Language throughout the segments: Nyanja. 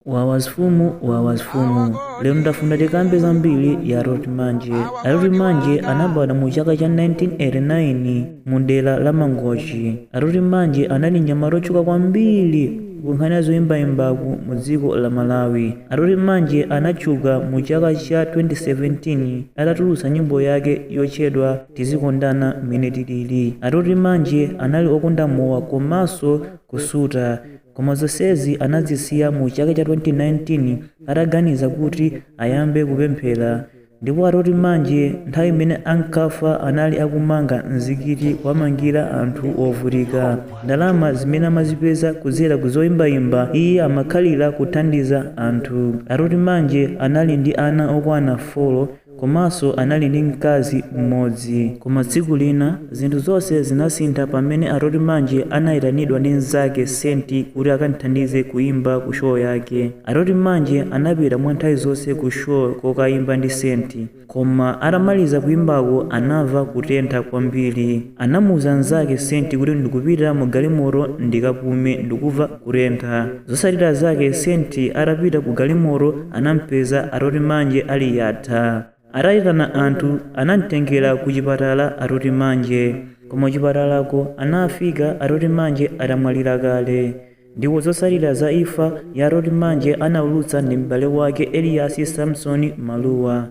wawa zimfumu wawa zimfumu lero ndafuna tikambe za mbiri ya atoht manje atoht manje anabadwa mu chaka cha 1989 mu dera la mangochi atoht manje anali mnyamata otchuka kwambiri kunkhani ya zoyimbayimbaku mu dziko la malawi atoht manje anatchuka mu chaka cha 2017 atatulutsa nyimbo yake yotchedwa tizikondana mmene tilili atoht manje anali okonda mowa komanso kusuta Koma zonsezi anazisiya mu chaka cha 2019 ataganiza kuti ayambe kupemphera ndipo Atoht Manje nthawi imene ankafa anali akumanga mzikiti kuwamangira anthu ovutika. Ndalama zimene amazipeza kudzera ku zoimbaimba iye amakhalira kuthandiza anthu. Atoht Manje anali ndi ana okwana folo Komanso anali ndi mkazi mmodzi. Koma tsiku lina, zinthu zonse zinasintha pamene Atoht Manje anaitanidwa ndi mnzake Saint kuti akam'thandize kuimba ku show yake. Atoht Manje anapita mwa nthawi zonse ku show kokaimba ndi Saint. Koma atamaliza kuimbako anamva kutentha kwambiri. Anamuuza mnzake Saint kuti, Ndikupita mu galimoto ndikapume. Ndikumva. kutentha. Zotsatira zake Saint atapita ku galimoto anampeza Atoht Manje ali yatha. Ataitana anthu anamtengera ku chipatala Atoht Manje. Koma kuchipatalako anafika Atoht Manje atamwalira kale. Ndipo zotsatira za imfa ya Atoht Manje anaulutsa ndi m'bale wake Elias Samson Maluwa.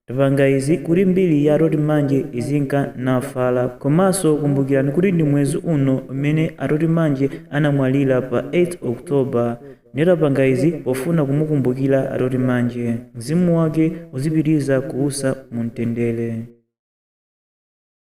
Tapanga izi kuti mbiri ya Atoht Manje izinka nafala komanso kumbukirani kuti ndi mwezi uno umene Atoht Manje anamwalira pa 8th October nde tapanga izi pofuna kumukumbukira Atoht Manje mzimu wake uzipitiriza kuusa mu mtendere.